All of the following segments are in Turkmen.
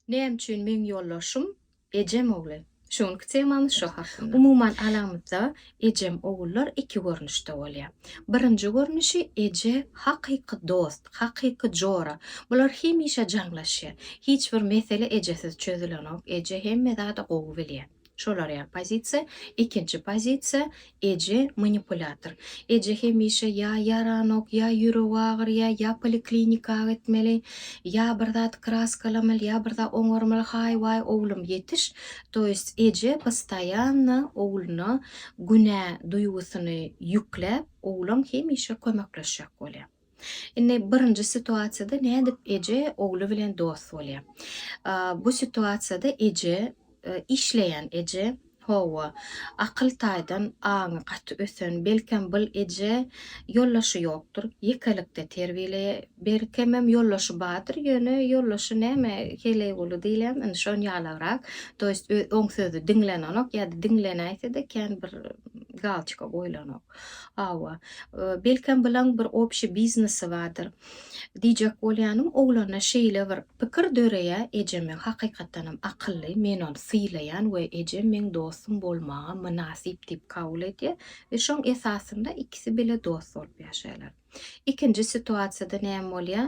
Näme üçin meň ýoldaşym ejem ogly? Şu günki temamyz şo hakynda. Umuman alamyzda ejem ogullar iki görnüşde bolýar. Birinji görnüşi eje hakyky dost, hakyky jora. Bular hemişe jaňlaşýar. Hiç bir mesele ejesiz çözülenok. Eje hemme zady gowy bilýär. Şolar ýa pozisiýa, ikinji pozisiýa, eje manipulýator. Eje hemişe ýa ýaranok, ýa ýüregi agyr, ýa ýa poliklinika gitmeli, ýa bir zat kraskalamaly, ýa bir zat oňarmaly, haý waý oglum ýetiş, to ýest eje postoýanno ogluna günä duýgusyny ýükläp, oglan hemişe kömekleşjek bolýar. Indi birinji situasiýada nädip eje ogly bilen dost bolýar? Bu situasiýada eje, işleýän eje, hawa, akyl taýdan aňy gaty ösen, belkem bul eje ýoldaşy ýokdur, ýekelikde terbiýeleýär, belkemem ýoldaşy bardyr, ýöne ýoldaşy näme, Heleýguly diýilýärmi, indi şon ýalagrak, to ýest oň sözü diňlenenok ýa-da diňlenäýse-de kän bir galçyka goýlanok. Hawa. Belkem bilaň bir obşi biznesi bardyr. Diýjek bolýanym, oglanda şeýle bir pikir döreýär, ejeme hakykatdanam akylly, men ony sylaýan we ejem meň dostum bolmaga mynasyp diýip kabul edýär we şoň esasynda ikisi bile dost bolup ýaşaýarlar. Ikinji situasiýada näme bolýar?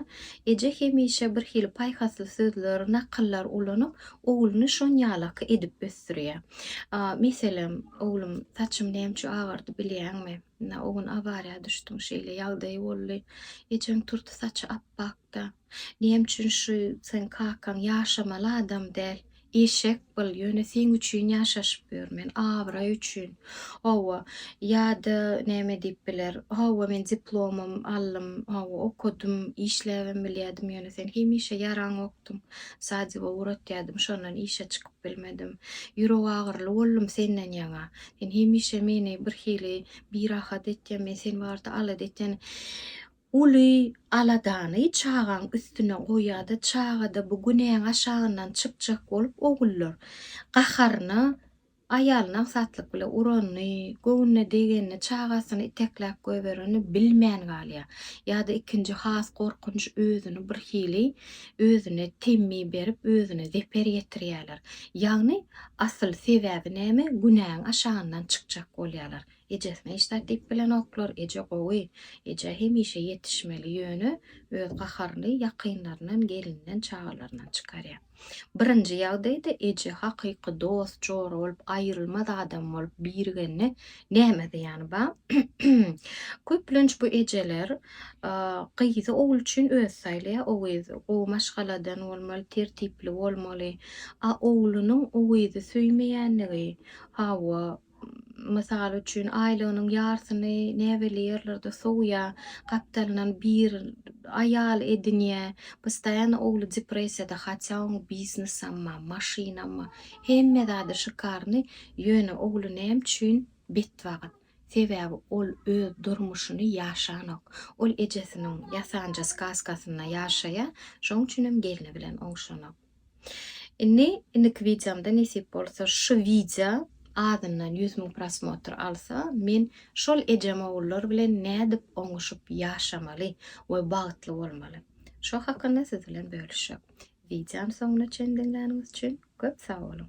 Eje hemişe bir hili paýhasly sözler, nakyllar ulanyp, ogluny şonýalaky edip ösdürýär. Meselem, Oglum, saçym näme üçin agardy bilýäňmi? O gün awariýa düşdüň, şeýle ýagdaý boldy. Ejeň turty saçy apbak. Ýok-da. Näme üçin şu seň kakaň ýaşamaly adam däl? Eşek bol, ýöne seň üçin ýaşaşyp ýörmen, abraý üçin. Hawa, ýa-da näme diýip biler. Hawa, men diplomym aldym, hawa, okadym, işläbem bilýärdim, ýöne sen hemişe ýaraňokdyň. Sadiba ugratýardym, şondan işe çykyp bilmedim. Ýürek agyryly boldum senden ýaňa. Sen hemişe meni birhili birahat etýän, men sen barada alada etýän. Uly aladany çagaň üstüne goýýada çagada bu günäň aşagyndan çykjak bolup ogullar gaharyna aýalyny aňsatlyk bile uranyny, göwnüne degenini, çagasyny itekläp goýberenini bilmän galýa. Ýada ikinji has gorkunç özüni bir hili özüne temmi berip özüne zeper ýetirýäler. Ýagny asyl sebäbi näme günäň aşagyndan çykjak bolýalar. Ejes neşta diýip bilenoklar, eje gowy, eje hemişe ýetişmeli ýöne öz gaharyny ýakynlaryndan gelinden çagalaryndan çykarýa. Birinji ýagdaýda eje hakyky dost jora bolup aýrylmaz adam bolup birigende näme zyýany ba? Köplenç bu ejeler gyzy ogul üçin özi saýlaýa, o gyz gowy maşgaladan bolmaly, tertipli bolmaly, a oglunyň o gyzy söýmeýänligi, hawa Mysal üçin, aýlygynyň ýarsyny näbelli ýerlerde sowýa, gapdalyndan bir aýal edinýä, postaýano ogly depressiýada, hatýa oň biznesamma, maşynamma, hemme zady şykarny, ýöne ogly näme üçin betbagt? Sebäbi ol öz durmuşyny ýaşanok. Ol ejesiniň ýasanja skazkasynda ýaşaýa, şoň üçinem gelni bilen oňşanok. Indi indiki wideomda nesip bolsa şu wideo azyndan ýüz müň prosmotr alsa men şol ejem ogullar bilen nädip oňuşyp ýaşamaly we bagtly bolmaly şo hakynda siz bilen bölüşjek. Wideony soňuna çendiňläniňiz üçin köp sag boluň.